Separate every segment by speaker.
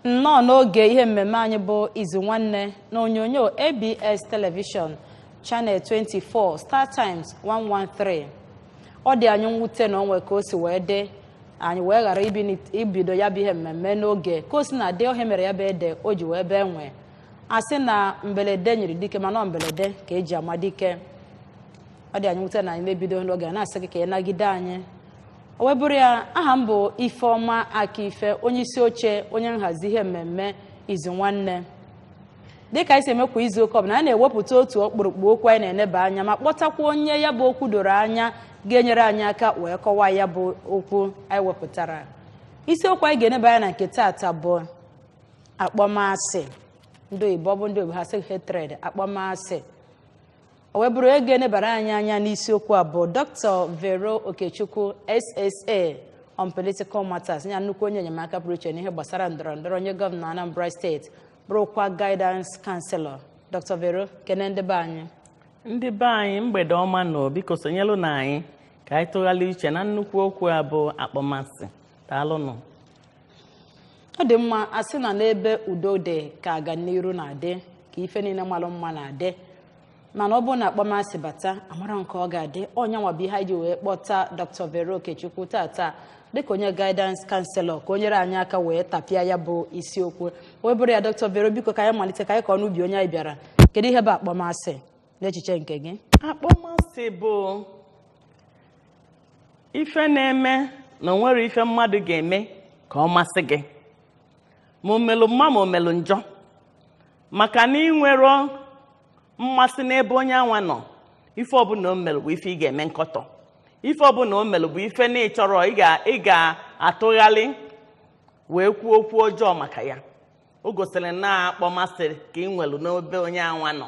Speaker 1: nnọọ n'oge ihe mmemme anyị bụ izu nwanne na onyonyo abs telivishọn channel 24 star times 113 ọ dị anyị mwute na o nwe ka o si wee dị anyị wee ghara ibini- ibido ya bụ ihe mmemme n'oge ka o si na-adị ọ ihe mere ya bụ ede o ji wee bee nwii a sị na mbelede nyiri dike mana ọ mbelede ka e ji ama dike ọ dị anyị mwute na anyị mebido n'oge na-asị gị ka ị nagide anyị o wee bụrụ ya aha m bụ ifeọma akaife onye isi oche onye nhazi ihe mmemme izu nwanne dịka anyị si eme kwa izu ụka ọbụla anyị na-ewepụta otu ọkpụrụkpụ okwu anyị na-eneba anya ma kpọtakwa onye ya bụ okwu doro anya ga-enyere anyị aka wee kọwaa ya bụ okwu anyị wepụtara isiokwu anyị ga-eneba anya na nke taata bụ akpọmasị ndị oyibo ọ bụ ndị oyibo ha sị hatred akpọmasị o wee bụrụ onye ga-enebara anyị anya n'isiokwu a bụ dr vero okechukwu ssa on political matters ya nnukwu onye enyemaka pụrụ iche n'ihe gbasara ndọrọ ndọrọ nye gọvanọ anambra steeti bụrụkwa guidance counselor dr vero kene ndị be anyị ndị be
Speaker 2: anyị mgbede ọma nụ biko sonyelunụ anyị ka anyị tụgharịa uche na nnukwu okwu a bụ akpọmasị daalụnụ
Speaker 1: ọ dị mma a sị na n'ebe udo dị ka aganiru na-adị ka ife niile malụ mma na-adị mana ọ bụrụ na akpọmasị bata amara nke ọ ga-adị ọ nya nwa bụ ihe anyị ji wee kpọta dr vero okechukwu tata dịka onye guidance counselor ka o nyere anyị aka wee tapịa ya bụ isiokwu wee bụrụ ya dr vero biko ka anyị malite ka anyị kọọ n'ubi onye anyị bịara kedu ihe bụ akpọmasị n'echiche nke gị
Speaker 2: akpọmasị bụ ife na-eme na o nwerọ ife mmadụ ga-eme ka ọ masị gị ma o melu mma ma o melu njọ maka na i nwerọ mmasị n'ebe onye anwa nọ ife ọbụla o melụ bụ ife ị ga-eme nkọtọ ife ọbụla o melụ bụ ife na ị chọrọ ị ga- ị ga-atụgharị wee kwuo okwu ọjọọ maka ya o gosiri na akpọmasị ka i nwelụ n'ebe onye anwa nọ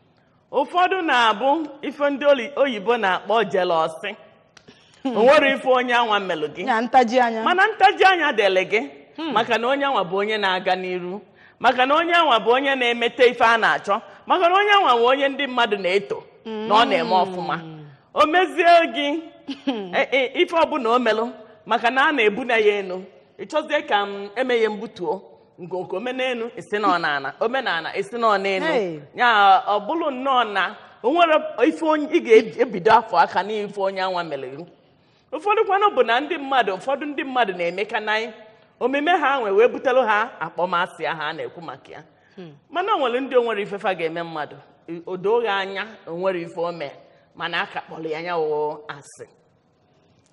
Speaker 2: ụfọdụ na-abụ ife ndị oli- oyibo na-akpọ jelọsị o nwerọ ife onye anwa melụ gị ya ntaji anya mana ntaji anya dịlị gị maka na onye anwa bụ onye na-aga n'iru maka na onye anwa bụ onye na-emete ife a na-achọ maka na onye anwa bụ onye ndị mmadụ na-eto na ọ na-eme ọfụma o mezie gị e- e- ife ọbụla o melụ maka na a na-ebuni ya enu ị chọzie ka m emeghe mbutuo nke o mee n'elu ị sị na ọ n'ana o mee n'ala ị sị na ọ n'elu Hey. ya ọ bụrụ nnọọ na o nwere ife ị ga-ebido afọ aka n'ife onye anwa mere gị ụfọdụ kwanụ bụ na ndị mmadụ ụfọdụ ndị mmadụ na-eme ka na omume ha nwe wee butere ha akpọmasị ahụ a na-ekwu maka ya mana o nwere ndị o nwerọ ife fa ga-eme mmadụ o doo gị anya o nwerọ ife o mee mana a ka kpọrọ ya ya wụ asị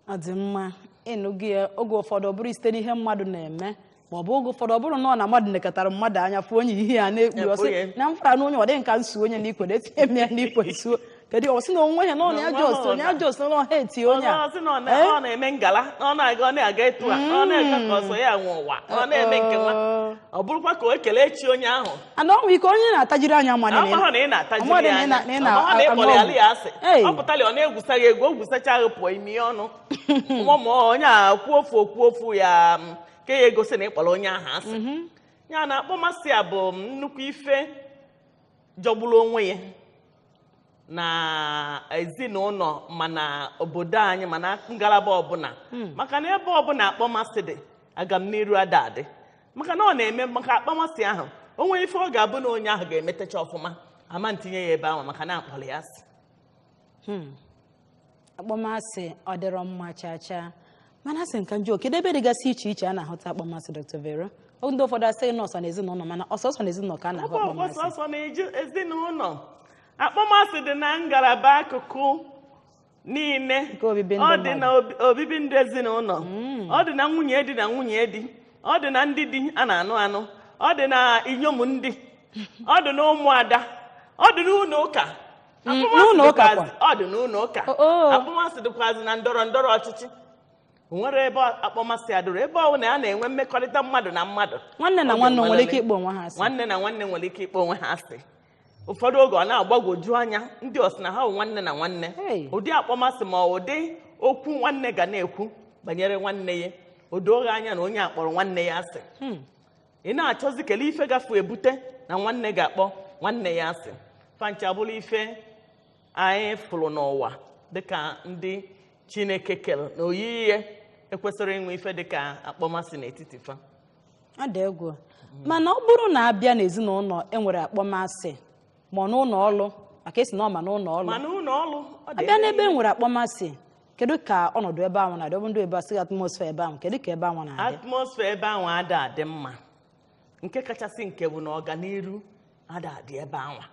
Speaker 1: ọ dị mma ị nụgo ya oge ụfọdụ ọ bụrụ site n'ihe mmadụ na-eme ma ọ bụ oge ụfọdụ ọ bụrụ na ọ na mmadụ nekatara mmadụ anya fụ onye ihe ya na-ekpu ọ sị na m fụrụ na onye a dị m ka m suo onye n'ikwe etinye m ya n'ikwe suo kedu ọ sị na onwe ya na ọ na-ajụ ọ sị onye a jụọ ọ sị na ọha eti onye a ọ sị na ọ na- ọ na-eme
Speaker 2: ngala na ọ na-aga ọ na-aga etu a na ọ na-aga ka ọ sọ ya nwe ụwa na ọ na-eme nke nwa ọ bụrụkwa ka o kelee chi onye ahụ ana o nwere ike
Speaker 1: onye na-atajiri anya mmadụ na- amahụ na ị
Speaker 2: na-atajiri mmadụ ya na ị anya na- na ị na- amahụ na ị kpọrọ ya ya asị Ei. ọ pụtara ọ na-egwusa gị egwu o gwusacha gị pụọ ị mie ya ọnụ mụmụ onye a kwuo ofu okwu ofu ya ka ya egosi na ị kpọrọ onye ahụ asị ya na akpọmasị a bụ nnukwu ife jọgburu onwe ya na ezinụlọ ma na obodo anyị ma na ngalaba ọbụla maka na ebe ọbụla akpọmasị dị agamniru ada adị maka na ọ na-eme maka akpọmasị ahụ o nwere ife ọ ga-abụ na onye ahụ ga-emetecha ọfụma a ma ntinye ya ebe anwa maka na a kpọrọ ya asị
Speaker 1: akpọmasị ọ dịrọ mma chaa chaa mana asị nka njọ kedu ebe dịgasị iche iche a na-ahụta akpọmasị Dr. Vero Ọ ndị ụfọdụ sị na ọ sọ na ezinụlọ mana ọ sọsọ na ezinụlọ ka a na-ahụ ọkwa akpọmasị ọ sọsọ na eju-
Speaker 2: ezinụlọ akpọmasị dị na ngalaba akụkụ niile Nke obibi ndụ ọ dị na obi- obibi ndụ ezinụlọ ọ dị na nwunye di na nwunye di ọ dị na ndị di a na-anụ anụ ọ dị na inyom di ọ dị na ụmụada ọ dị na ụlọ ụka Mm, Akpọmasị n'ụlọ ụka dịkwazị- kwa. ọ dị n'ụlọ ụka O- o. akpọmasị dịkwazị na ndọrọ ndọrọ ọchịchị O nwerọ ebe akpọmasị adịrọ ebe ọbụla a na-enwe mmekọrịta mmadụ na
Speaker 1: mmadụ
Speaker 2: Ọ ga-enwerịrị. nwanne na
Speaker 1: nwanne
Speaker 2: nwere ike ịkpọ onwe ha asị
Speaker 1: nwanne
Speaker 2: na
Speaker 1: nwanne
Speaker 2: nwere ike
Speaker 1: ịkpọ
Speaker 2: onwe
Speaker 1: ha
Speaker 2: asị ụfọdụ oge ọ na-agbagwoju anya ndị ọ sị na ha bụ nwanne na nwanne Hey. ụdị akpọmasị ma ụdị okwu nwanne ga na-ekwu banyere nwanne ya o doo gị anya na onye a kpọrọ nwanne ya asị ị na-achọzi kele ife gafu ebute na nwanne ga-akpọ nwanne ya asị fa ncha bụrụ ife anyị fụrụ n'ụwa dịka ndị chineke kere na oyiyi ya ekwesịrọ inwe ife dịka akpọmasị n'etiti fa ọ dị
Speaker 1: egwu mana ọ bụrụ na a bịa n'ezinụlọ e nwere akpọmasị ma ọ n'ụlọ ọrụ maka ị sị na ọ ma n'ụlọ ọrụ ma n'ụlọ ọrụ ọ dị a bịa n'ebe e nwere akpọmasị kedu ka ọnọdụ ebe anwa na-adị ọ bụ ndị bekee sị atmosphere ebe anwa kedu ka ebe anwa na-adị atmosphere ebe
Speaker 2: anwa ada adị mma nke kachasị nke bụ na ọganiru ada adị ebe anwa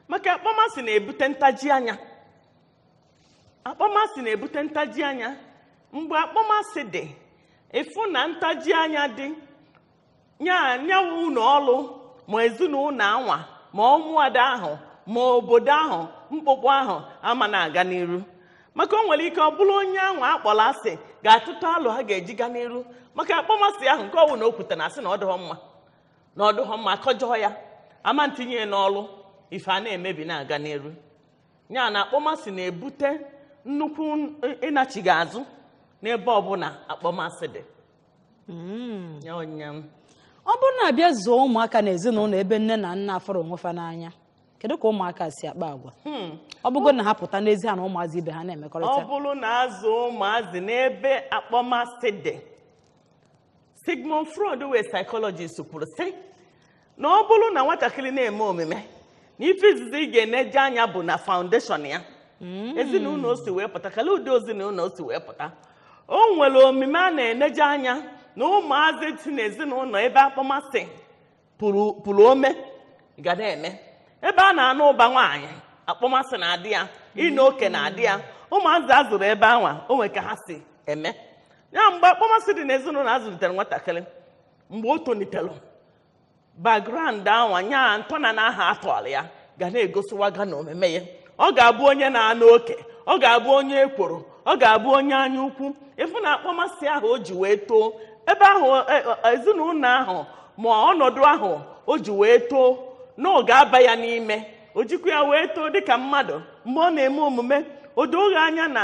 Speaker 2: maka akpọmasị na-ebute ntaji anya akpọmasị na-ebute ntaji anya mgbe akpọmasị dị ị fụ na ntaji anya dị nya nyawa ụlọ ọrụ ma ezinụlọ anwa ma ụmụada ahụ ma obodo ahụ mkpụkpụ ahụ ama na-aga n'iru maka o nwere ike ọ bụrụ onye ahụ a kpọrọ asị ga-atụta alo ha ga-eji ga n'iru maka akpọmasị ahụ nke ọ wụ na o kwute na asị na ọ dụghọ mma na ọ dụghọ mma akọjọọ ya ama ntinye ya n'ọrụ ife a na-emebi na-aga n'iru ya na akpọmasị na-ebute nnukwu ịnachigha azụ n'ebe ọbụla akpọmasị dị
Speaker 1: hmm. ọ bụrụ na a bịa zụọ ụmụaka na ezinụlọ ebe nne na nna afụrọ onwe fa n'anya kedu ka ụmụaka si akpa agwa hmm. ọ bụgo na ha pụta n'ezi ha na ụmụazị ibe ha na-emekọrịta ọ bụrụ na a
Speaker 2: zụọ ụmụazị n'ebe akpọmasị dị Sigmund Freud wụ psychologist kwuru sị na ọ bụrụ na nwatakịrị na-eme omume na ife izizi ị ga-eneje anya bụ na foundation ya ezinụlọ o si wee pụta kala ụdị ezinụlọ o si wee pụta o nwere omume a na-eneje anya na ụmụazị si n'ezinụlọ ebe akpọmasị puru ome ga na-eme ebe a na-anụ ụba nwaanyị akpọmasị na-adị ya ịna oke na-adị ya ụmụazị a zụrụ ebe anwa o nwere ka ha si eme ya mgbe akpọmasị dị n'ezinụlọ a zụlitere nwatakịrị mgbe o tolitere background anwa nya ntọana ahụ a tọrọ ya ga na-egosiwaga na omume ya ọ ga-abụ onye na-anụ oke ọ ga-abụ onye ekworo ọ ga-abụ onye anya ukwu ị fụ na akpọmasị ahụ o ji wee too ebe ahụ e, e, ezinụlọ ahụ ma ọnọdụ ahụ o ji wee too na ọ ga-aba ya n'ime o jikwa ya wee too dịka mmadụ mgbe ọ na-eme omume o doo gị anya na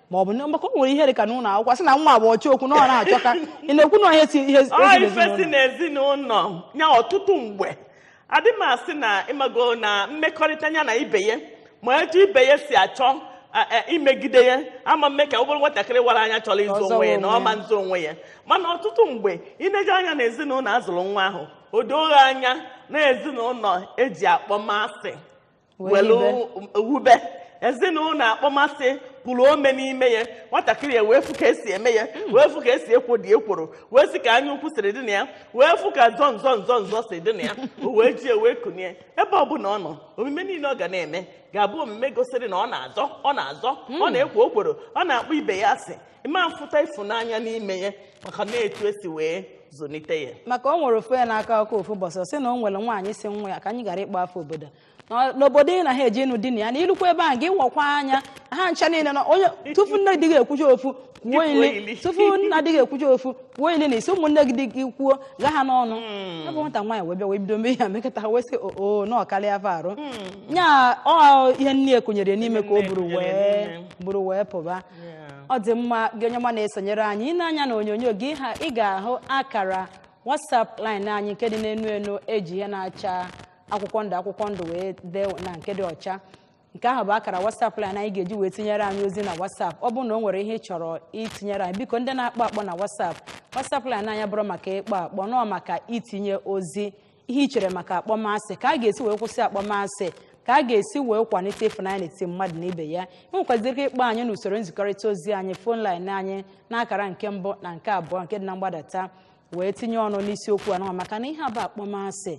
Speaker 1: ma ọ bụ maka o nwere ihe dị ka n'ụlọ akwụkwọ sị na nwa bụ ọchọ okwu na ọ na-achọka ị na-ekwu na ọ ife
Speaker 2: si n'ezinụlọ ya ọtụtụ mgbe adị m asị na ị mago na mmekọrịta ya na ibe ya ma etu ibe ya si achọ a- a- imegide ya ama mme ka ọ bụrụ nwatakịrị wara anya chọrọ ịzọ onwe ya na ọ ma nzọ onwe ya mana ọtụtụ mgbe i neje anya na ezinụlọ a zụrụ nwa ahụ o doo gị anya na ezinụlọ e ji akpọmasị welu wube ezinụlọ akpọmasị puru ome n'ime ya nwatakịrị ya wee fụ ka e si eme ya wee fụ ka e si ekwodị ekworo wee sị ka anya ukwu siri dị na ya wee fụ ka nzọ nzọ nzọ nzọ si dị na ya o wee ji ya wee kunie ebe ọ bụla ọ nọ omume niile ọ ga na-eme ga-abụ omume gosiri na ọ na-azọ ọ na-azọ ọ na-ekwo okworo ọ na-akpọ ibe ya asị ị ma-afụta ịfụnanya n'ime ya maka na etu e si wee zụlite ya maka o nwere ofu
Speaker 1: a na-akọ akọ ofu ụbọchị ọ sị na o nwere nwaanyị sị nwa ya ka anyị ghara ịkpọ afa obodo Na- n'obodo ị na-eje ịnụ di na ya na i lukwa ebe ahụ gị wakwa anya ha ncha niile na onye tupu nne di gị ekwucha ofu kwuo ili. tupu nna di gị ekwucha ofu kwuo ili na isi ụmụnne gị di gị kwuo gha ha n'ọnụ ya bụ nwata nwaanyị wee bịa wee bido mee ya mekọta ha wee sị oo na ọ karịa afọ arụ nya ọ ihe nne ya kụnyere ya n'ime ka o buru wee pụba ọ dị mma gị onye ọma na-esonyere anyị i nee anya na onyonyo gị ha ị ga-ahụ akara WhatsApp line anyị nke dị n'enu enu e ji ihe na-acha akwụkwọ ndụ akwụkwọ ndụ wee dee na nke dị ọcha nke ahụ bụ akara WhatsApp line anyị ị ga-eji wee tinyere anyị ozi na WhatsApp ọ bụrụ na o nwere ihe ị chọrọ itinyere anyị biko ndị na-akpọ akpọ na WhatsApp WhatsApp line anyị abụrọ maka ịkpọ akpọ na ọ maka itinye ozi ihe i chere maka akpọmasị ka a ga-esi wee kwụsị akpọmasị ka a ga-esi wee kwalite ịfụnanya n'etiti mmadụ na ibe ya i nwekwaziri ike ịkpọ anyị n'usoro nzikọrịta ozi anyị phone line anyị n'akara nke mbụ na nke abụọ nke dị na mgbadata wee tinye ọnụ n'isiokwu anwa maka na ihe a bụ akpọmasị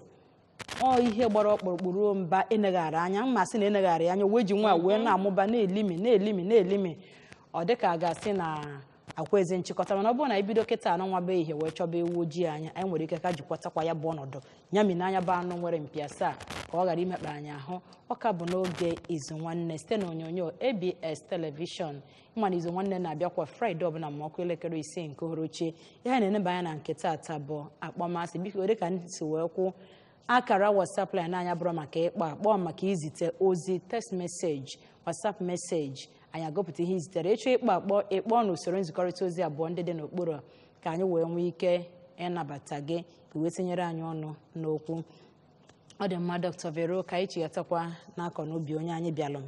Speaker 1: ọ ihe gbara ọkpụrụkpụ ruo mba e neghara anya ma asị na e neghara ya anya wee ji nwayọ wee na-amụba na-elimi na-elimi na-elimi ọ dịka a ga-asị na ekwezi nchịkọta mana ọ bụrụ na e bido kịta anụnwa bụ ihe wee chọba ewu ojii anya anyị nwere ike ka jikwatakwa ya bụ ọnọdụ nyami n'anya bụ anụ nwere mpi asaa ka ọ ghara imekpa anyị ahụ ọ ka bụ n'oge izu nwanne site na onyonyo ABS television ị ma na izu nwanne na-abịa kwa Friday ọbụla ma ọ kụọ elekere isii nke uhuruchi ihe a na-eneba anya na nke taata bụ akpọmasị biko dị ka anyị si wee kwu akara whatsapp line anyị abụrọ maka ịkpọ akpọ maka izite ozi text message whatsapp message anyị agụpụta ihe i zitere ị chọọ ịkpọ akpọ ị kpọọ n'usoro nzikọrịta ozi abụọ ndị dị n'okpuru a, ka anyị wee nwee ike ịnabata gị ka i wee tinyere anyị ọnụ n'okwu ọ dị mma dr vero ka anyị chighatakwa n'akọ n'obi onye anyị bịalụ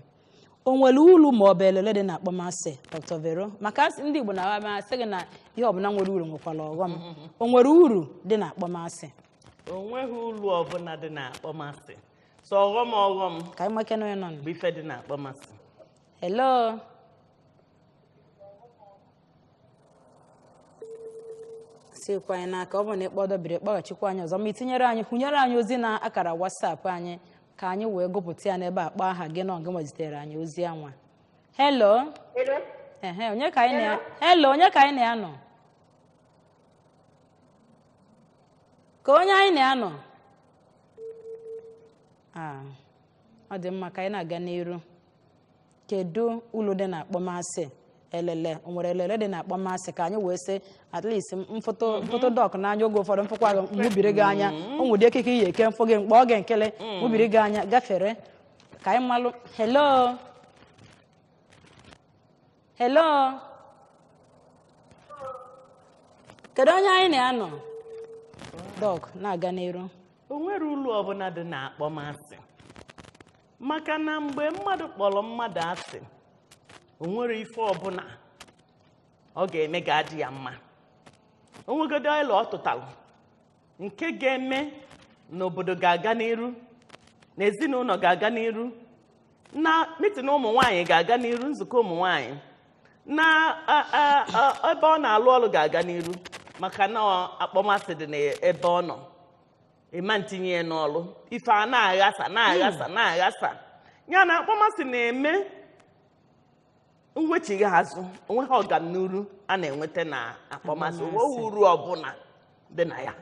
Speaker 1: o nwere ulu ma ọ bụ elele dị na akpọmasị dr vero maka asị- ndị igbo na-aga asị gị na ihe ọbụla nwere uru nwekwara ọghọm o nwere uru dị na akpọmasị o
Speaker 2: nweghị ulu ọbụla dị na akpọmasị sọ ọghọm ọghọm ka anyị nekene onye
Speaker 1: nọ nụ. bụ ife dị na
Speaker 2: akpọmasị
Speaker 1: hello sikwa anyị n'aka ọ bụ na ị kpọọ ọ dọbiri kpọghachikwa anyị ọzọ ma i tinyere anyị hụnyere anyị ozi na akara WhatsApp anyị ka anyị wee gụpụta ya n'ebe a kpọọ aha gị na ọ gị zitere anyị ozi anwa hello Hello? ehe onye ka anyị na hello onye ka anyị na ya nọ kee onye anyị na ya nọ Ah, ọ dị mma ka anyị na-aga n'iru kedu ulu dị na akpọmasị elele o nwere elele dị na akpọmasị ka anyị wee sị at least m fụtụ m fụtụ dọk n'anya oge ụfọdụ m fụkwa gị m gbubiri gị anya o nwere ekike ị ya-eke m fụ gị m kpọọ gị nkili m gbubiri gị anya gafere ka anyị malụ hello hello kedu onye anyị na ya nọ dọk na-aga n'iru o nwerọ ulu
Speaker 2: ọbụla dị na akpọmasị maka na mgbe mmadụ kpọrọ mmadụ asị o nwerọ ife ọbụla ọ ga-eme ga-adị ya mma o nwegodu ọla ọ tụtalụ nke ga-eme na obodo ga-aga n'iru na ezinụlọ ga-aga n'iru na mitin ụmụ nwaanyị ga-aga n'iru nzukọ ụmụ nwaanyị na a- a- a- ebe ọ na-alụ ọrụ ga-aga n'iru maka na ọ- akpọmasị dị n'ebe ọ nọ ị ma ntinye ya n'ọrụ ife a na-aghasa na-aghasa na-aghasa ya na akpọmasị na-eme mwechigha azụ onweghị ọganiru a na-enweta na akpọmasị Akpọmasị. onweghị uru ọbụla dị na ya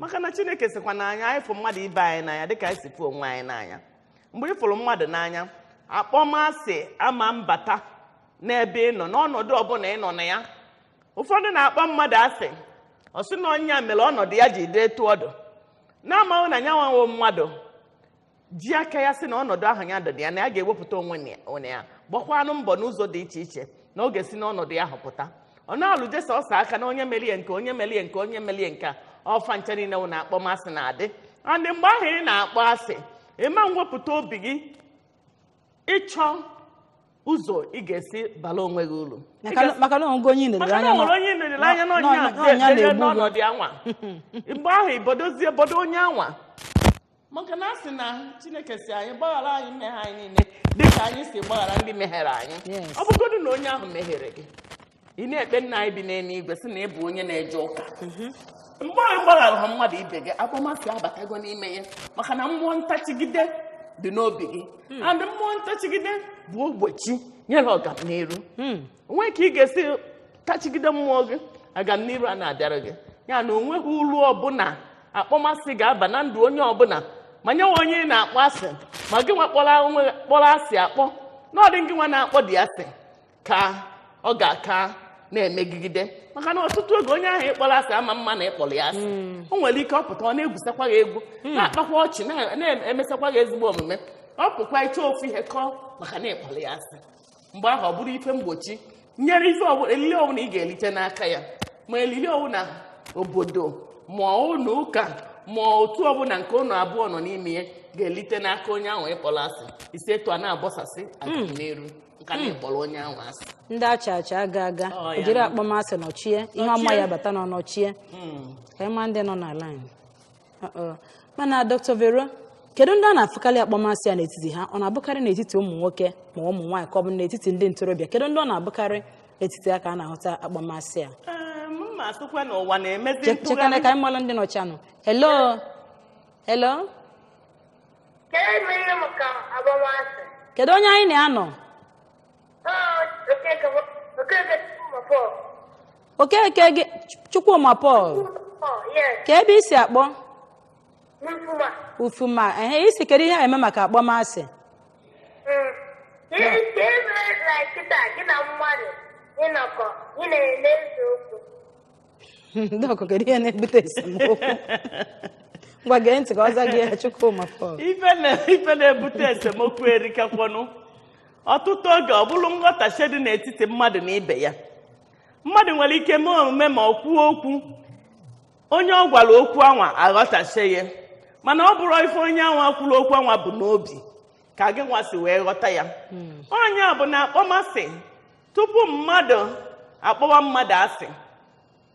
Speaker 2: maka na chineke sịkwa na anyị anyị fụ mmadụ ibe anyị n'anya dịka anyị si fụ onwe anyị n'anya mgbe ị fụrụ mmadụ n'anya akpọmasị ama mbata n'ebe ị nọ n'ọnọdụ ọbụla ị nọ na ya ụfọdụ na-akpọ mmadụ asị ọ sị na onye a mere ọnọdụ ya ji dị etu ọ dụ na-amaghị na nya nwa wụ mmadụ ji aka ya sị na ọnọdụ ahụ ya dọdị ya na ya ga-ewepụta onwe ya gbakwanụ mbọ n'ụzọ dị iche iche na ọ ga-esi n'ọnọdụ ya ahụ pụta ọ na-alụ jesa ọsọ aka na onye merie nke onye merie nke onye merie nke ọ fa ncha niile wụ na akpọmasị na-adị adị mgbe ahụ ị na-akpọ asị ị ma nwepụta obi gị ịchọ ụzọ ị ga-esi bala onwe gị uru maka na o nwe onye
Speaker 1: maka na nwere onye nlere
Speaker 2: anya na onye ahụ ga-edere n'ọnọdụ anwa mgbe ahụ i bodozie bodo onye anwa maka na a sị na chineke sị anyị gbaghara anyị mmehie anyị niile dịka anyị si gbaghara ndị mehiere anyị Yes. ọ bụgodu na onye ahụ mehiere gị ị na-ekpe nna anyị bi n'eluigwe sị na ị bụ onye na-eje ụka mgbe ị gbagharaha mmadụ ibe gị akpọmasị abatago n'ime ya maka na mmụọ ntachigide dị n'obi gị and mmụọ ntachigide bụ ogbochi nyere ọganiru o nwee ka ị ga-esi tachigide mmụọ gị agamniru a na-abịara gị ya na onweghị uru ọbụla akpọmasị ga-aba na ndụ onye ọbụla ma nya wụ onye ị na-akpọ asị ma gị nwa kpọrọ onwe gị- kpọrọ asị akpọ na ọ dị gị nwa na-akpọdị asị ka ọ ga-aka na-emegide maka na ọtụtụ oge onye ahụ ị kpọrọ asị ama mma na ị kpọrọ ya asị o nwere ike ọ pụta ọ na-egwusakwa gị egwu na-akpakwa ọchị na- na-emesakwa gị ezigbo omume ọ pụkwa ị chọọ ofu ihe kọọ maka na ị kpọrọ ya asị mgbe ahụ ọ bụrụ ife mgbochi nyere ife ọbụla elili ọbụla ị ga-elite n'aka ya ma elili ọbụla obodo ma ụlọ ụka ma otu ọbụla nke unu abụọ nọ n'ime ya ga-elite n'aka onye ahụ ị kpọrọ asị i si etu a na-abọsasị agamniru maka na ị kpọrọ onye ahụ asị ndị acha acha
Speaker 1: aga aga Ọ, ya ejiri na- akpọmasị nọchie ihe ọma ya-abata na ọ nọchie ka anyị ma ndị nọ na laịn Uh-oh. mana dr vero kedu ndị a na-afụkarị akpọmasị a n'etiti ha ọ na-abụkarị n'etiti ụmụ nwoke ma ụmụ nwaanyị ka ọ bụ n'etiti ndị ntorobịa kedu ndị ọ na-abụkarị n'etiti ha ka a na-ahụta akpọmasị a Ee, m ma
Speaker 2: asịkwa na ụwa na-emezi
Speaker 1: Che- chekana ntụgharị ka anyị malụ
Speaker 2: ndị
Speaker 1: nọchanụ
Speaker 2: hello
Speaker 1: hello Ka emere m ka akpọmasị. kedu onye anyị na ya nọ okeke gị chukwuma paul kee ebe i si akpọ ufuma ehe ị sị kedu ihe a eme maka akpọmasị Dọkụ, kedu ihe na-ebute esemokwu? Ngwa gee ntị ka ọ zaa gị ya Chukwuma Paul. ife na- ife
Speaker 2: na-ebute esemokwu erikakwanụ ọtụtụ oge ọ bụrụ nghọtahie dị n'etiti mmadụ na ibe ya mmadụ nwere ike mee omume ma o kwuo okwu onye ọ gwara okwu anwa aghọtahie ya mana ọ bụrọ ife onye anwa kwuru okwu anwa bu n'obi ka gị nwa si wee ghọta ya ọ nya bụ na akpọmasị tupu mmadụ akpọwa mmadụ asị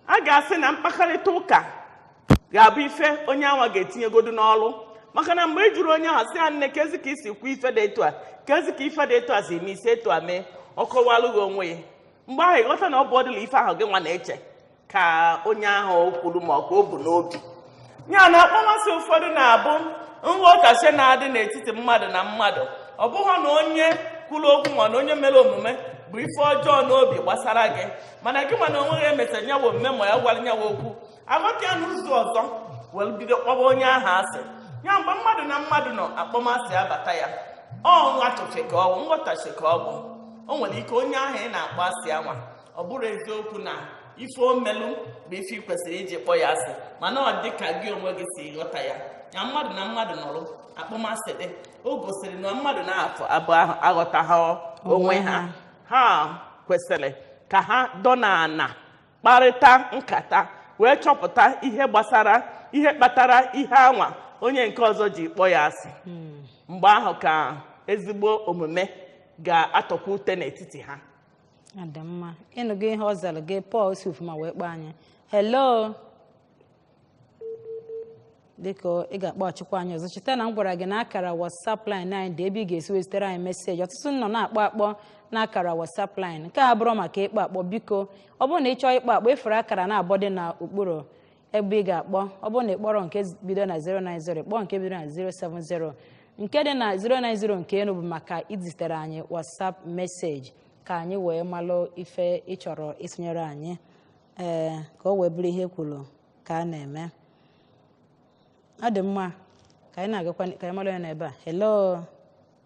Speaker 2: a ga-asị na mkpakarịta ụka ga-abụ ife onye anwa ga-etinyegodu n'ọlụ maka na mgbe ị jụrụ onye ahụ sị ya nne kezi ka i si kwuo ife dị etu a kezi ka ife dị etu a si eme i si etu a mee ọ kọwalụ gị onwe ya mgbe ahụ ị ghọta na ọ bụọdịla ife ahụ gị nwa na-eche ka onye ahụ kwuru ma ọ ka o bu n'obi ya na akpọmasị ụfọdụ na-abụ nghọtahie na-adị n'etiti mmadụ na mmadụ ọ bụghị na onye kwuru okwu ma na onye mere omume bu ife ọjọọ n'obi gbasara gị mana gị nwa n'onwe gị e mesara nyawa omume ma ya gwara nyawa okwu aghọta ya n'ụzọ ọzọ were bido kpọba onye ahụ asị ya mgbe mmadụ na mmadụ nọ akpọmasị abata ya ọ nwa tụfe ka ọ bụ nghọtahie ka ọ bụ o nwere ike onye ahụ ị na-akpọ asị anwa ọ bụrụ eziokwu na ife o melu bụ ife ị kwesịrị iji kpọ ya asị mana ọ dị ka gị onwe gị si ghọta ya ya mmadụ na mmadụ nọrụ akpọmasị dị o gosiri na mmadụ naabọ ahụ aghọtaha onwe ha ha kwesịrị ka ha dọ n'ana kparịta nkata wee chọpụta ihe gbasara ihe kpatara ihe anwa onye nke ọzọ ji kpọ ya asị mgbe ahụ ka ezigbo omume ga-atọkwa ute n'etiti ha ọ dị
Speaker 1: mma ị nụgo ihe ọ zara gị paul si ufuma wee kpọọ anyị hello dịka ị ga-akpọghachikwa anyị ọzọ cheta na m gwara gị na akara whatsapp line anyị dị ebe ị ga-esi wee zitere anyị message ọtụtụ nọ na-akpọ akpọ na akara whatsapp line nke abụrọ maka ịkpọ akpọ biko ọ bụrụ na ị chọọ ịkpọ akpọ ị fụrụ akara naabọ dị n'okpuru ebe ị ga-akpọ ọ bụrụ na ị kpọrọ nke bido na 090 kpọọ nke bido na 070 nke dị na 090 nke enu bụ maka izitere anyị WhatsApp message ka anyị wee malụ ife ị chọrọ ịtụnyere anyị ee ka o wee bụrụ ihe e kwuru ka a na-eme ọ dị mma ka anyị na-agakwa ka anyị malụ ya n'ebe a hello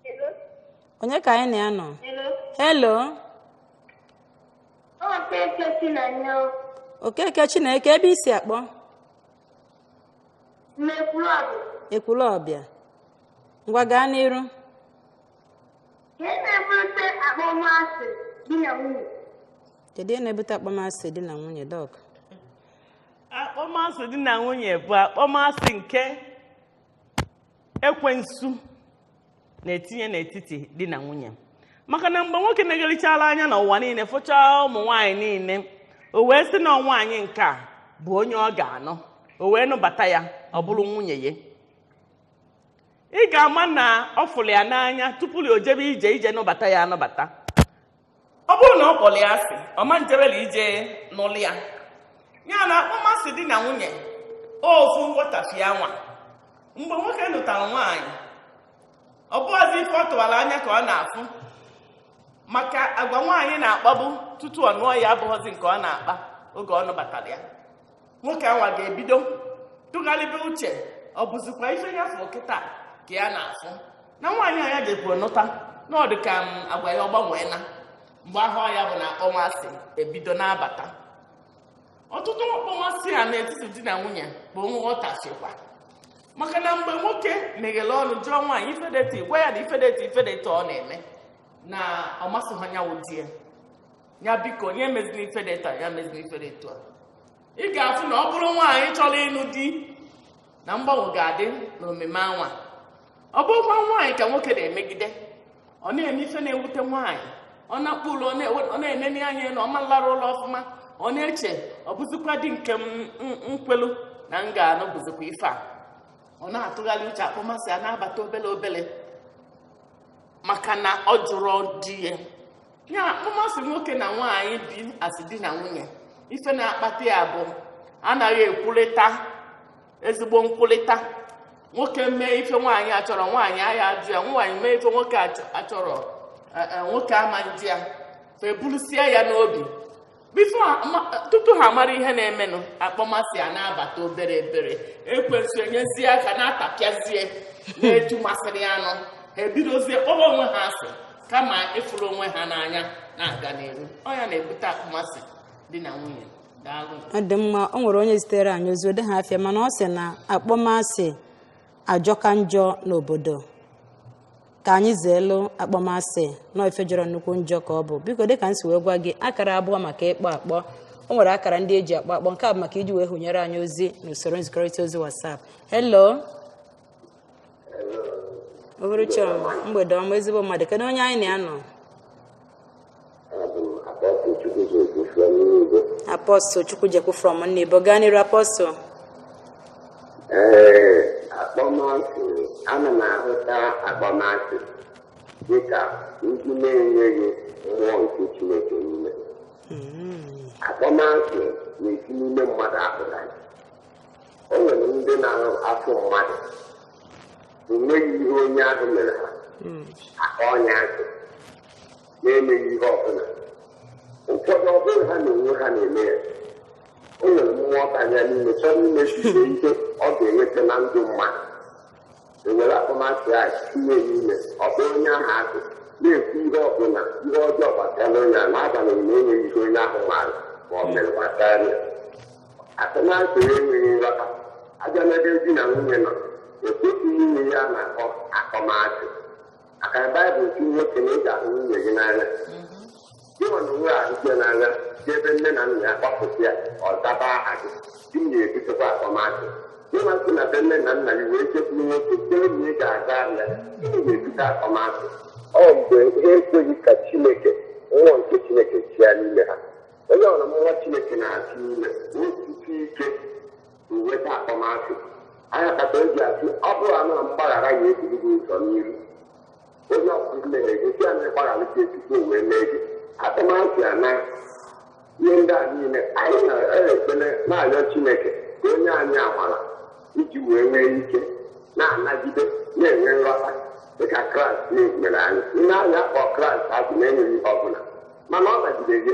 Speaker 1: Hello? onye ka anyị na ya nọ Hello? Okeke Chineke ebe i si akpọ Ekwulọbịa ngwa gaa n'iru kedu ihe na-ebute akpọmasị di na nwunye dọk akpọmasị
Speaker 2: di na nwunye bụ akpọmasị nke ekwensu na-etinye n'etiti di na nwunye maka na mgbe nwoke negharịchala anya n'ụwa niile fụchaa ụmụ nwaanyị niile o wee sị na nwaanyị nke a bụ onye ọ ga-anụ o wee nụbata ya ọ bụrụ nwunye ya ị ga-ama na ọ fụrụ ya n'anya tupu ya o jebe ije ije nụbata ya anụbata ọ bụrụ na ọ kpọrọ ya asị ọ ma njebela ije nụlụ ya ya na akpọmasị di na nwunye ofu nghọtafie anwa mgbe nwoke nụtara nwaanyị ọ bụghịzi ife ọ tụwara anya ka ọ na-afụ maka agwa nwaanyị na-akpabu tutu ọ nụọ ya abụghịzi nke ọ na-akpa oge ọ nụbatara ya nwoke anwa ga-ebido tụgharịba uche ọ bụzikwa ife ya fụ kịta ka ya na-afụ na nwaanyị a ya jekwuru nụta na ọ dị ka m agwa ya ọ gbanweena mgbe ahụ ya bụ na akpọmasị ebido na-abata ọtụtụ akpọmasị a n'etiti di na nwunye bụ nghọtafiekwa maka na mgbe nwoke meghere ọnụ jụọ nwaanyị ife dị etu a gwa ya na ife dị etu a ife dị etu a ọ na-eme na ọ masịghị ya wụ di ya ya biko ya emezina ife dị etu a ya emezina ife dị etu a ị ga-afụ na ọ bụrụ nwaanyị chọrọ ịnụ di na mgbanwe ga-adị n'omume anwa ọ bụrụkwa nwaanyị ka nwoke na-emegide ọ na-eme ife na-ewute nwaanyị ọ na-akpụ ụlọ ọ na-ewe- ọ na-enene anya na ọ ma lara ụlọ ọfụma ọ na-eche ọ bụzikwa di nke m kwelu na m ga-anụ bụzikwa ife a ọ na-atụgharị uche akpọmasị a na-abata obele obele maka na ọ jụrụ di ya ya akpọmasị nwoke na nwaanyị bi as di na nwunye ife na-akpata ya bụ anaghị ekwurịta ezigbo nkwurịta nwoke mee ife nwaanyị achọrọ nwaanyị aya ajụ ya nwaanyị mee ife nwoke achọrọ e, e, nwoke ama njụ ya fa eburusie ya n'obi tupu ha mara ihe na-emenụ akpọmasị a na-abata obere obere ekwensu enyezie aka na-atapịazie n'etu masịrị ya nụ ha ebidozie kpọba onwe ha asị kama ịfụrụ onwe ha n'anya na-aga n'iru ọ ya na-ebute akpọmasị di na nwunye daalụ ọ dị mma o
Speaker 1: nwere onye zitere anyị ozi o deha afa ya mana ọ sị na akpọmasị ajọka njọ n'obodo ka anyị zeelu akpọmasị na ife jọrọ nnukwu njọ ka ọ bụ biko dịka m si wee gwa gị akara abụọ maka ịkpọ akpọ o nwere akara ndị eji akpọ akpọ nke a bụ maka iji wee hụnyere anyị ozi n'usoro nzikọrịta ozi WhatsApp hello uhuruchi ọma mgbede ọma ezigbo mmadụ kedu onye anyị na ya nọ Apostle Chukwujekwu from Nnibo gaa n'iru Apostle ee
Speaker 3: akpọmasị ana m ahụta akpọmasị dịka ndị na-enweghị mmụọ nke chineke n'ime akpọmasị na-esi n'ime mmadụ apụta o nwere ndị na-afụ mmadụ enweghị ihe onye ahụ mere ha akpọọ onye a asị na-emeghị ihe ọbụla ụfọdụ ọ bụrụ ha na onwe ha na-eme ya o nwere mmụọ banye n'ime chọrọ imechisi ihe ọ ga-enweta na ndụ mmadụ ewere akpọmasị a tinye n'ime ọ bụrụ onye ahụ akụ na-ekwu ihe ọbụla ihe ọjọọ gbasara onye a n'agbanyeghị na enweghị ihe onye ahụ maara ma ọ mere gbasara ya akpọmasị enweghị nghọta abịa n'ebe di na nwunye nọ ekwesịghị inwe ihe a na-akpọ akpọmasị maka na baịbụl sị nwoke na ị ga-ahụ nwunye gị n'anya gị nwa na onwe ahụ gị n'anya si ebe nne na nna ya kpọpụta ya ọ zaba aha gị gịnị na-ebutekwa akpọmasị gị nwa si na be nne na nna gị wee jekwuru nwoke sị na ị ga-aza aha ya gịnị na-ebute akpọmasị ọ mgbe ha ekweghị ka chineke mmụọ nke chineke chịa n'ime ha onye ọ bụ mmụọ chineke na-achị n'ime o siri ike inweta akpọmasị ọ ya kpata eji asị ọ bụrụ na mgbaghara ya ebiri gị ụzọ n'iru onye ọbụla mere gị sị na ị gbaghara ya tutu o wee mee gị akpọmasị a na ihe ndị a niile anyị na-ekpele na-arịọ Chineke ka o nye anyị amara iji wee nwee ike na-anagide na-enwe nghọta dịka kraịst nwere anyị ndị ahịa akpọ kraịst asị na-enweghị ihe ọbụla mana ọ nagide ha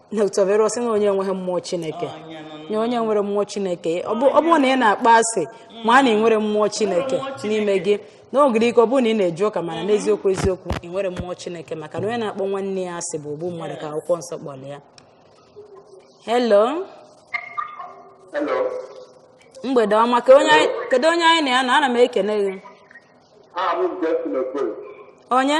Speaker 1: Dr. Vero sị na onye enweghị mmụọ Chineke na onye nwere mmụọ Chineke ọ bụ- ọ bụrụ na ị na-akpọ asị ma na ị nwerọ mmụọ Chineke n'ime gị o nwere ike ọ bụrụ na ị na-eje ụka mana n'eziokwu eziokwu ị nwerọ mmụọ Chineke maka na onye na-akpọ nwanne ya asị bụ ogbu mmadụ ka akwụkwọ nsọ kpọrọ ya hello Hello. mgbede ọma ka onye anyị- kedu onye anyị na ya nọ ana m ekene gị Ah, I'm Justin Okoro. onye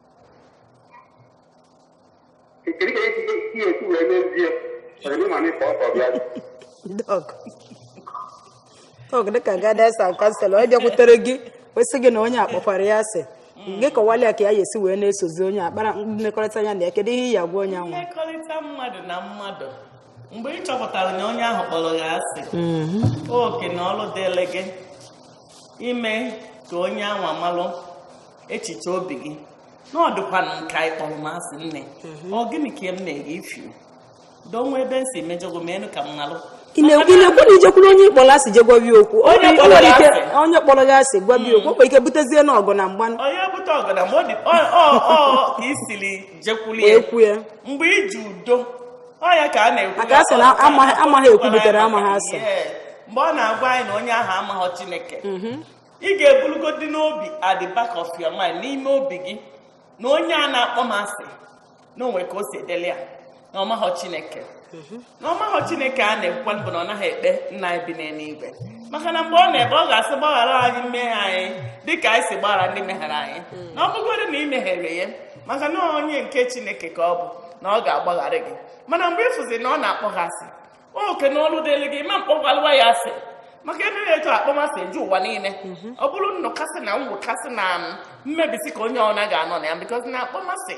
Speaker 1: Dọk dịka guidance and counselor onye bịakwutere gị wee sị gị na onye a kpọkwara ya asị gị kọwala ya ka ya ga-esi wee na-esozi onye akpara mmekọrịta ya na ya kedu ihe ị ya-agwa onye ahụ mmekọrịta mmadụ
Speaker 2: na mmadụ mgbe ị chọpụtara na onye ahụ kpọrọ gị asị mm-hmm. oke na ọrụ dịrị gị ime ka onye anwa malụ echiche obi gị na ọ dịkwanụ m ka ị kpọrọ m asị nne mhm. ọ gịnị ka m mere gị ifi doo o nwee ebe m si mejọọ gị menụ ka m malụ ị na-ekwu
Speaker 1: na ijekwuru onye ị kpọrọ asị je gwa ya okwu onye kpọrọ gị asị gwa ya okwu o nwere ike butezie na ọgụ na mgba onye bute ọgụ na mgba
Speaker 2: ọ dị ọ ka i siri jekwuru ya mgbe i ji udo ọ ya ka a na-ekwu maka a sị
Speaker 1: na amaghị ekwu
Speaker 2: butere
Speaker 1: amaghị asa
Speaker 2: mgbe ọ
Speaker 1: na-agwa
Speaker 2: anyị na onye ahụ amaghọ
Speaker 1: chineke mhm.
Speaker 2: ị ga-ebulugodi n'obi at the back of your mind n'ime obi gị na onye a na-akpọ m asị na o nwe ka o si dịrị ya na ọ maghọ chineke mhm. na ọ maghọ chineke a na-ekwukwa bụ na ọ naghị ekpe nna anyị bi n'eluigwe maka na mgbe ọ na-ekpe ọ ga-asị gbaghara anyị mmehie anyị dịka anyị si gbaghara ndị mehere anyị mhm. na ọ bụgodu na ị mehere ya maka na onye nke chineke ka ọ bụ na ọ ga-agbaghara gị mana mgbe ị fụzi na ọ na-akpọ gị asị oke na ọlụ dịrị gị ma mkpọgwalụwa ya asị maka e mee ya etu akpọmasị eju ụwa niile mhm. ọ bụrụ nnọkasị na mwụkasị na um, mmebisi ka onye ọbụna ga-anọ na ya because na akpọmasị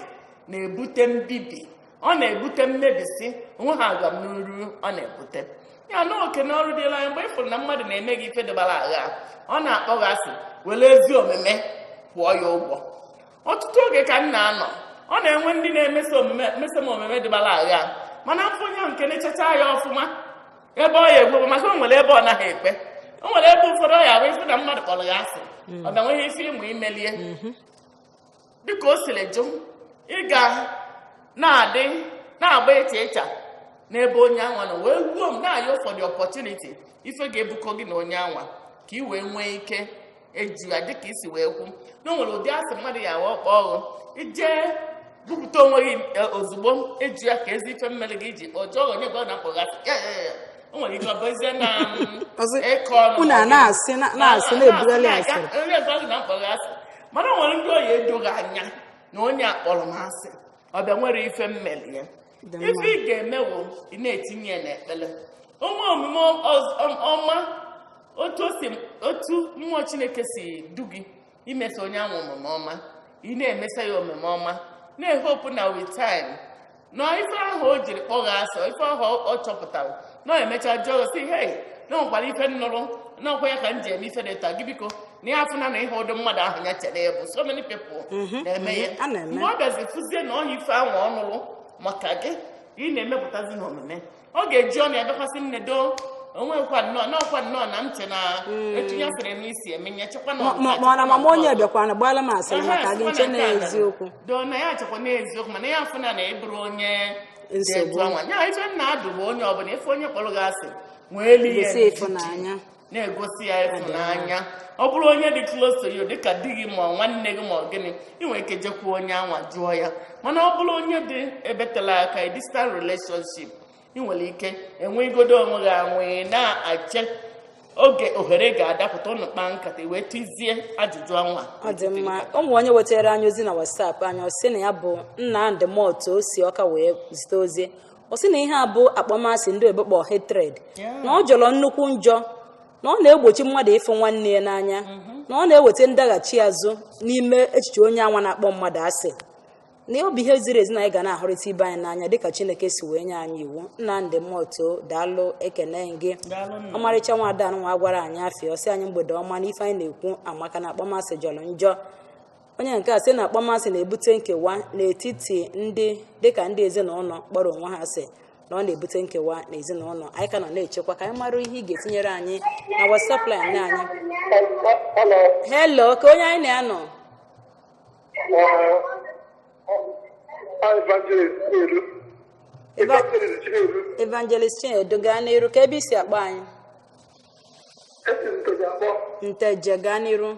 Speaker 2: na-ebute mbibi ọ na-ebute mmebisi o nweha agwa m n'uru ọ na-ebute ya na oke na ọrụ dịlị anyị mgbe ị fụrụ na mmadụ na-eme gị ife dịbara agha ọ na-akpọ gị asị were ezi omume kwụọ ya ụgwọ ọtụtụ oge ka m na-anọ ọ na-enwe ndị na-emeso m omume dịbara agha mana afụ onye ahụ nke na-achacha anya ọfụma ebe ọ ya egbu maka o nwere ebe ọ naghị ekwe o nwere ebe ụfọdụ ọ ya-abụ ị fụ na mmadụ kpọrọ gị asị ọ bịa nweghị ife ị ma imelie dịka o siri jọ ị ga na-adị na-agba ịcha ịcha n'ebe onye anwa nọ wee ruo m na-ayọ for the opportunity ife ga-ebukọ gị na onye anwa ka ị wee nwee ike ịjụ ya dịka i si wee kwu na o nwere ụdị asị mmadụ ya awa akpọ ọghọ ije bupụta onwe gị e, ozugbo ịjụ ya keezi ife m mere gị iji ọ jụọ onye gwa gị na m kpọ gị asị ya ya ya o nwere ike ọ bụzie na mm, Ọzọ, ịkọ ọnụ unu a na-asị
Speaker 1: na- na-asị na-ebugharị asịrị onye gwa gị na m
Speaker 2: kpọ gị asị mana o nwere ndị ọ ya-edo gị anya na onye a kpọrọ m asị ọ bịa nwere ife m meli ya ife ị ga-eme wụ ị na-etinye ya n'ekpere ụmụ omume ọma otu mmụọ chineke si du gị imeso onye ahụ omume ọma ị na-emesa ya omume ọma na-ehope na with time na ife ahụ o jiri kpọ gị asị ife ahụ ọ chọpụtara na ọ mecha jụọ gị sị hei na o nwekwara ife m nụrụ na ọkwa ya ka m ji eme ife dị etu a gị biko na ya afụna na ịhọ ụdị mmadụ ahụ ya chere ị bụ so many people mhm, na-eme ya mhm, mgbe ọ bịazi fụzie na ọhọ ife ahụ ọ nụrụ maka gị ị na-emepụtazi n'omume ọ ga-eji ọnụ ya bịakwa sị nne doo o nwekwa nnọọ n'ọkwa nnọọ na m che na hmm. etinye asịrị n'isi emenye chekwa na mana mama
Speaker 1: onye bịakwana gbala m asịrị maka gị m che na eziokwu doo na ya
Speaker 2: chekwa na eziokwu mana ya afụna na ị bụrọ onye nsogbu ya ife m na-adụ bụ onye ọbụla ị fụ onye kpọrọ gị asị nweelu ya na-egosi ya ịfụnanya ọ bụrụ onye dị close to you dịka di gị ma nwanne gị ma ọ gịnị ị nwere ike jekwuo onye anwa jụọ ya mana ọ bụrụ onye dị ebe tela aka a distant relationship ị nwere ike enwegodo onwe gị anwe na-ache oge ohere ga-adapụta unu kpaa nkata wee tizie ajụjụ anwa ọ dị mma o
Speaker 1: nwe onye wetara anyị ozi na WhatsApp anyị ọ sị na ya bụ Nnamdị Moto o si Ọka wee zite ozi ọ sị na ihe a bụ akpọmasị ndị oyibo kpọ hatred na ọ jọrọ nnukwu njọ na ọ na-egbochi mmadụ ịfụ nwanne ya n'anya mm-hmm. na ọ na-eweta ndaghachi azụ n'ime echiche onye anwa na-akpọ mmadụ asị na ọ bụ ihe ziri ezi na anyị ga na-ahụrịta ibe anyị n'anya dịka chineke si wee nye anyị iwu Nnamdị Moto daalụ ekene gị ọmarịcha nwa ada nwa agwarọ anyị afa ya ọ sị anyị mgbede ọma na ife anyị na-ekwu amaka na akpọmasị jọrọ njọ onye nke a sị na akpọmasị na-ebute nkewa n'etiti ndị dịka ndị ezinụlọ kpọrọ onwe ha asị na ọ na-ebute nkewa n'ezinụlọ anyị ka nọ na-echekwa ka anyị mara ihe ị ga-etinyere anyị na WhatsApp line anyị Hello. hello ka onye anyị na ya nọ Evangelist Chinedu. Eva- Evangelist Chinedu. evangelist chinedu gaa n'iru ka ebe i si akpọ anyị Esi m Nteje akpọ. nteje gaa n'iru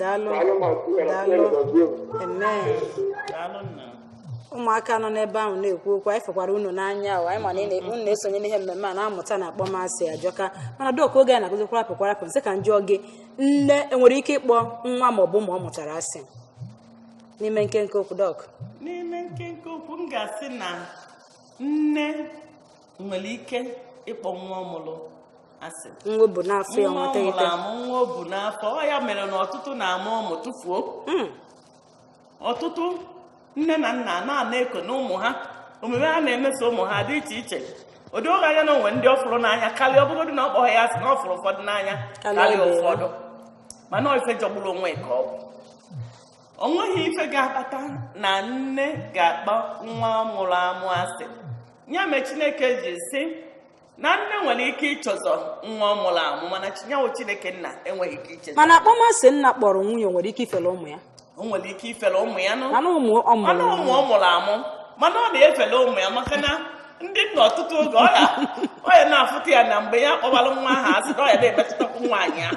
Speaker 1: daalụ Daalụ ma ọ tinyere Daalụ. chineke gọzie unu. amen daalụ nna ụmụaka nọ n'ebe ahụ na-ekwu okwu anyị fụkwara unu n'anya o anyị ma na ị na- unu na-esonye n'ihe mmemme a na-amụta na akpọmasị ajọka mana doc oge anyị na-akụzi kwarapụ kwarapụ m sị ka m jụọ gị nne enwere ike ịkpọ nwa ma ọ bụ ụmụ ọ mụtara asị n'ime nkenke okwu doc n'ime nkenke
Speaker 2: okwu m ga-asị na nne nwere ike ịkpọ nwa ọ mụrụ asị nwa o bu
Speaker 1: n'afọ ya nwa nwata ọ mụrụ ite amụ nwa o bu
Speaker 2: n'afọ ọ ya mere na ọtụtụ na-amụ ụmụ tụfuo Mm. ọtụtụ nne na nna na-ana eko na ụmụ ha omume ha na-emeso ụmụ ha dị iche iche ụdị o doo anya na o nwe ndị ọ fụrụ n'anya karịa ọ bụgodị na ọ kpọghị ya asị na ọ fụrụ ụfọdụ n'anya Karịa karịa ibe ya. ụfọdụ mana ọ ife jọgburu onwe ka ọ bụ o nweghị ife ga-akpata na nne ga-akpọ nwa ọ mụrụ amụ asị ya mere chineke ji sị na nne nwere ike ichezọ nwa ọ mụrụ amụ mana chi anyị wụ chineke nna enweghị ike iche mana akpọmasị nna
Speaker 1: kpọrọ nwunye nwere ike ifere ụmụ ya o nwere ike
Speaker 2: ifere ụmụ ya mana
Speaker 1: ụmụ ọ mụrụ
Speaker 2: amụ mana ọ na-efere ụmụ ya maka na ndị nna ọtụtụ oge ọ ya na-afụta ya na mgbe ya kpọbara nwa ahụ asị na ọ ya na-emetụtakwu nwaanyị ahụ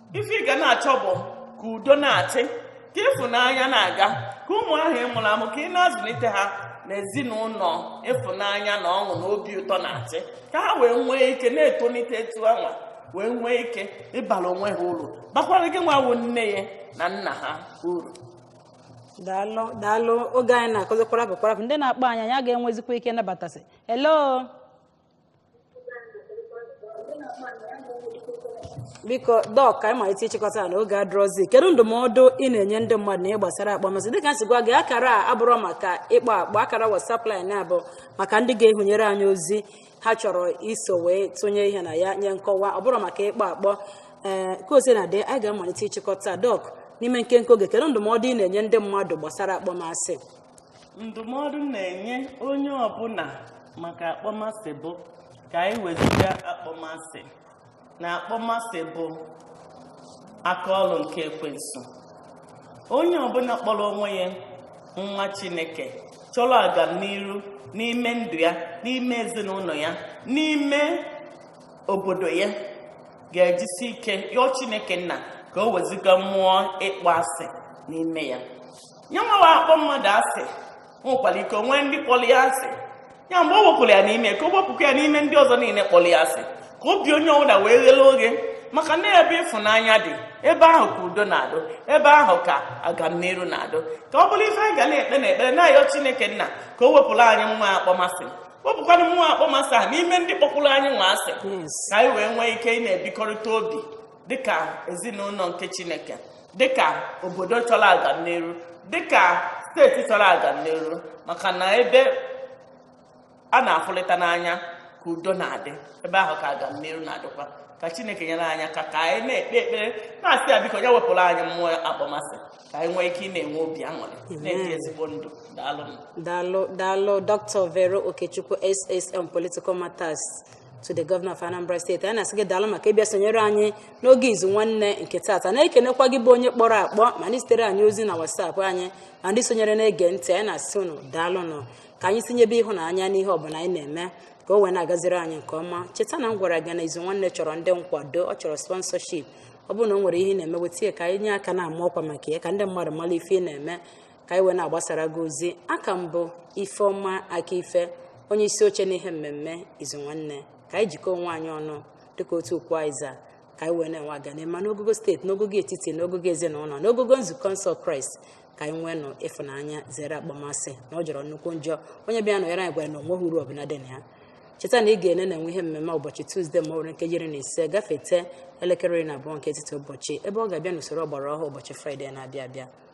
Speaker 2: ife ị ga na-achọ bụ ka udo na-achị ka ịfụnanya na-aga ka ụmụ ahụ ị mụrụ amụ ka ị na-azụlite ha n'ezinụlọ ịfụnanya na ọṅụ na obi ụtọ na-achị ka ha wee nwee ike na-etolite etu anwa wee nwee ike ịbara onwe ha uru bakwara gị nwa wụ nne ha na nna ha uru daalụ
Speaker 1: daalụ oge anyị na-akụzi kwarapụ kwarapụ ndị na-akpọ anyị anyị aga enwezikwa ike nabatasị hello biko dọk ka anyị malite ịchịkọta na oge adịrọzi kedu ndụmọdụ ị na-enye ndị mmadụ na ihe gbasara akpọmasị dịka m si gwa gị akara a abụrọ maka ịkpọ akpọ akara WhatsApp line a bụ maka ndị ga-ehunyere anyị ozi ha chọrọ iso wee tụnye ihe na ya nye nkọwa ọ bụrọ maka ịkpọ akpọ ee ka o sina dị anyị ga-amalite ịchịkọta dọk n'ime nkenke oge kedu ndụmọdụ ị na-enye ndị mmadụ gbasara akpọmasị
Speaker 2: ndụmọdụ m na-enye onye ọbụla maka akpọmasị bụ ka anyị wezụga akpọmasị na akpọmasị bụ aka ọrụ nke ekwensu onye ọbụla kpọrọ onwe ya nwa chineke chọrọ agamniru n'ime ndụ ya n'ime ezinụlọ ya n'ime obodo ya ga-ejisi ike yọọ chineke nna ka o wezụga mmụọ ịkpọ asị n'ime ya ya nwa na-akpọ mmadụ asị nwekwara ike o nwee ndị kpọrọ ya asị ya mgbe o wepụrụ ya n'ime ka o wepụkwa ya n'ime ndị ọzọ niile kpọrọ ya asị ka obi onye ọbụla wee ghele oghe maka na ebe ịfụnanya dị ebe ahụ ka udo na-adụ ebe ahụ ka agamniru na-adụ ka ọ bụrụ ife anyị ga na-ekpe na ekpere na-ayọ chineke nna ka o wepụrụ anyị nwa akpọmasị wepụkwa mmụọ akpọmasị ahụ n'ime ndị kpọkwụrụ anyị nwa asị ka anyị wee nwee ike ịna-ebikọrịta obi dịka ezinụlọ nke chineke dịka obodo chọrọ agamniru dịka steeti chọrọ agamniru maka na ebe a na-afụlịta n'anya ka udo na-adị ebe ahụ ka agamniru na-adịkwa ka chineke nyere anyị aka ka anyị na-ekpe ekpere na-asị ya biko ya wepụrụ anyị mmụọ akpọmasị ka anyị nwee ike ịna-enwe obi aṅụrị na-ebi ezigbo ndụ daalụ daalụ
Speaker 1: daalụ dr vero okechukwu ssa on political matters to the governor of Anambra state anyị na-asị gị daalụ maka ịbịa sonyere anyị n'oge izu nwanne nke taata na-ekenekwa gị bụ onye kpọrọ akpọ ma ndị zitere anyị ozi na WhatsApp anyị ma ndị sonyere na-ege ntị anyị na-asị unu daalụnụ ka anyị tinyebe ịhụnanya n'ihe ọbụla anyị na-eme ka o wee na-agaziri anyị nke ọma cheta na m gwara gị na izu nwanne chọrọ ndị nkwado ọ chọrọ sponsorship ọ bụrụ na o nwere ihe ị na-eme weta ya ka anyị nye aka na-ama ọkwa maka ya ka ndị mmadụ mara ife ị na-eme ka anyị wee na-agbasara gị ozi a ka m bụ ifeọma akaife onye isi oche n'ihe mmemme izu nwanne ka anyị jikọọ onwe anyị ọnụ dịka otu ukwu azịza ka anyị wee na-enwe agamniru n'ogogo steeti n'ogogo etiti n'ogogo ezinụlọ n'ogogo nzukọ nsọ kraịst ka anyị nweenụ ịfụnanya zere akpọmasị na ọ jọrọ nnukwu njọ onye bịa nọnyere anyị gwara na o nweghị uru ọbụla dị na ya cheta na anyị ga na-enwe ihe mmemme ụbọchị tuzdee ma ọ bụrụ nkeji iri na ise gafete elekere iri na abụọ nke etiti ụbọchị ebe ọ ga-abịa n'usoro ọgbara ọhụụ ụbọchị fraịde na-abịa abịa